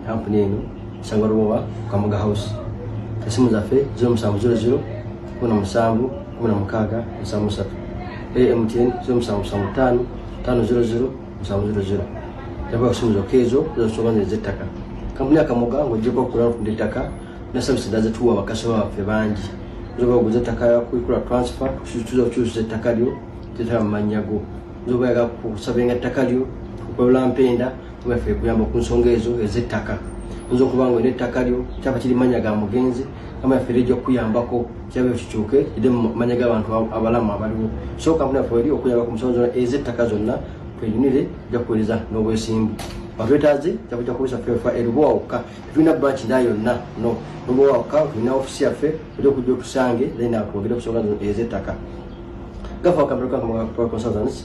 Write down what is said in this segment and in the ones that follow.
kampuni eno kusanga lubowa kamuga house esimu zaffe 0700 17 16 73 amtn 0775 500 700 yaba okusimu zokka ezo zosoba nezettaka kampuni ya kamuga ng'ogyeko okukula okutunda ettaka ne service dda zetuwa bakasoma baffe bangi zoba oguza ettaka kuikula transfer tuza okukyusa ettaka lyo tetala mu mannya go zoba yaga kusabenga ettaka lyo kukolola mpenda weffe kuyamba ku nsonga ezo ez'ettaka oyinza okuba nga olina ettaka lyo kyaba kiri manya ga mugenzi kama yaffe era ejja kukuyambako kyaba kikyuke ide mu manya g'abantu abalamu abaliwo so kampuni yaffe eri okuyamba ku nsonga zonna ez'ettaka zonna twenyumire ejja kuwereza n'obwesimbu batwetaaze jakuja kukozesa fefa erubowa wokka tetulina branch nda yonna no rubowa wokka tulina ofisi yaffe oja okujja otusange then atwogere ku nsonga ezettaka gafa wakamera kakonsultants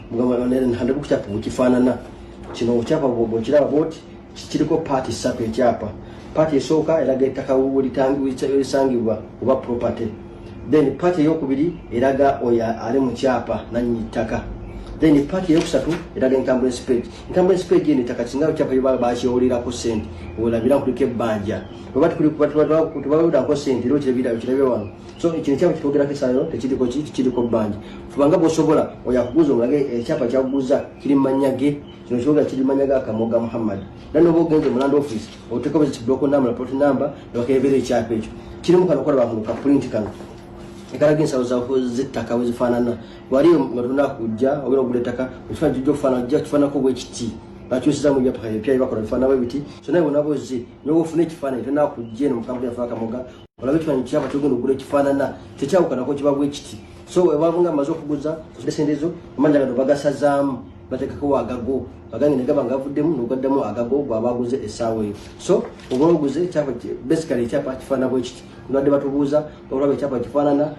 kukyapa bwekifaanana kino okyapa bwekiraba bwoti kiriko paati ssatu ekyapa paati esooka eraga ettaka welisangibwa oba property then paati eyokubiri eraga oyo ali mu kyapa nanyini ttaka then paati eyokusatu eraga encumbrance page encumbrance page eno ettaka singa ekyapa yobala bakyewolirako sente olabira kuliko ebbanja oba tebawolerako sente era okirabira wano so kino ekyapa kitwogerako esaano tekiriko ki kiriko bbanja kubanga bwosobola oyo akuguza omulage ekyapa eh, kyakuguza kiri mumanya ge kino kibuga kiri mumanya ga kamoga muhammad era noba ogenze mu land office oteekako kibuloko namba lapot namba nebakebeera ekyapa ekyo kirimu kano kola bakano ka print kano ekalaga ensalo zettaka wezifaanana wali nga tuna kujja ogenda okugula ettaka ekifaana kijja okufaana jja kifaanako bwekiti bakyusiza mu byapa ebipya byebakola bifaanabo ebiti so naye bonabozi nyoba ofuna ekifaananyi tona kujja eno mukampuni yafaakamoga olabe ekifananyi kyaba kyogenda okugula ekifaanana tekyawukanako kiba bwe kiti so webaba nga amaze okuguza esendezo amanja gano bagasazaamu batekako agago agange negaba nga avuddemu nogaddamu agago gwabaguze essaawa eyo so oba oguze ekyapa basically ekyapa kifaanana bwe kiti nbadde batubuuza olaba ekyapa kifaanana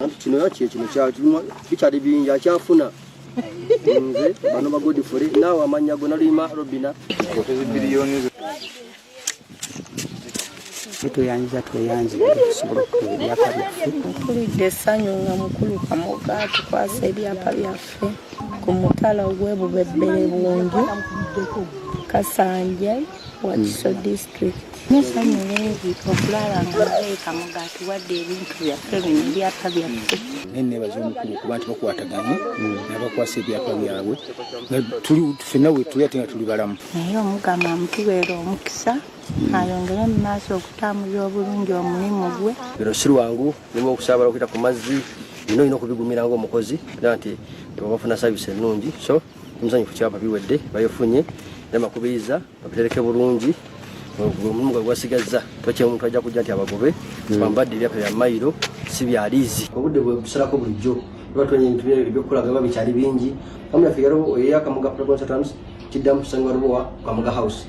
anti kino era kyekino bikyali bingi akyafuna nze bano bagodifule naawe amannya go naluyima robina tweyanjiza tweyanjira okusobola okukola ebyapa byaffe mpulidde essanyu nga mukulu kamoga tukwasa ebyapa byaffe ku mutala ogw'ebubebbere bungi kasanje Wakiso district nesanyu lingi okulaba nga mubeeka mugaati wadde ebintu byaffe bino ebyapa byaffe naye nebaza omukulu kuba nti bakwataganye nabakwasa ebyapa byabwe fenna wetuli ate nga tuli balamu naye omugama mutubeera omukisa ayongere mu maaso okutambulira obulungi omulimu gwe biro si lwangu nima okusaabala okuyita ku mazzi nina olina okubigumira ngaomukozi era nti tebabafuna savisi ennungi so omusanyu ku kyapa biwedde bayofunye era bakubiriza babitereke bulungi omulimu gwe gwasigazza tokye omuntu ajja kujja nti abagobe hmm. bambadde ebyapa bya mayiro si bya liizi obudde bwe busalako bulijjo batwenye ebintu ebyokukolaga biba bikyali bingi amu yaffe yaliwo eyakamugga progon satams kiddamu kusangibwa lubowa kamuga house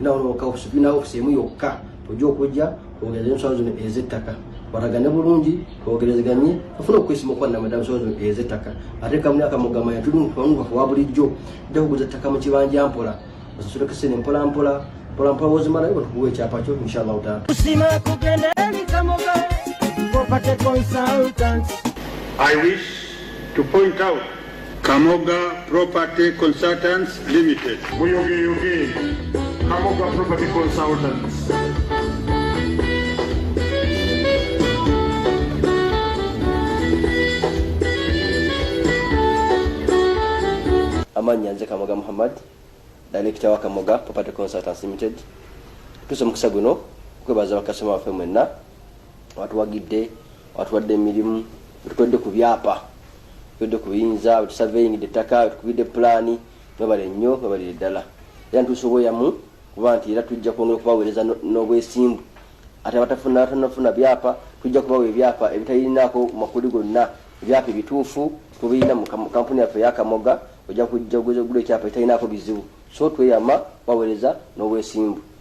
Ina wano waka ofisi tulina ofisi emu yokka ojja okujja kwongereza ensonga zino ez'ettaka baragane bulungi bogerezeganye afuna okwesima okwanna madamu sozo eza ettaka ate kamu akamugama yatulunkuwangukafu wa bulijjo dda kuguza ettaka mu kibanja mpola osasuleko sene mpola mpola mpola mpola wozimalayo batukuwa ekyapa kyo inshallahu taala kusima kugenda emikamoga I wish to point out Kamoga Property Consultants Limited. Muyogeyoge Kamoga Property Consultants. Amanya nze Kamoga Muhammad, Director wa Kamoga Property Consultants Limited. Tusa mukisa guno kwebaza bakasoma waffe mwenna watuwagidde watuwadde emirimu wetukodde ku byapa tukodde ku biyinza wetusaveingidde ettaka wetukubidde pulaani webale nnyo webalire ddala era ntuusa obweyamu kuba nti era tujja kwongera okubaweereza n'obwesimbu ate abatafuna abatanafuna byapa tujja kubawa ebyapa ebitalinaako makuli gonna ebyapa ebituufu tubirina mu kampuni yaffe yakamoga ojja kujja ogula ekyapa ekitalinaako bizibu so tweyama baweereza n'obwesimbu